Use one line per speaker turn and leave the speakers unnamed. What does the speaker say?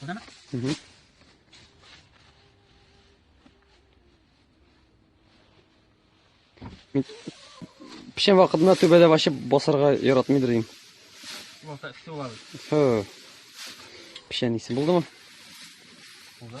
Burada mı? Hı hı. Пишем вакытында түбәдә вообще басарга яратмыйдыр идем. Булса эссе булабыз. Фу. Пишән исе булдымы? Булды.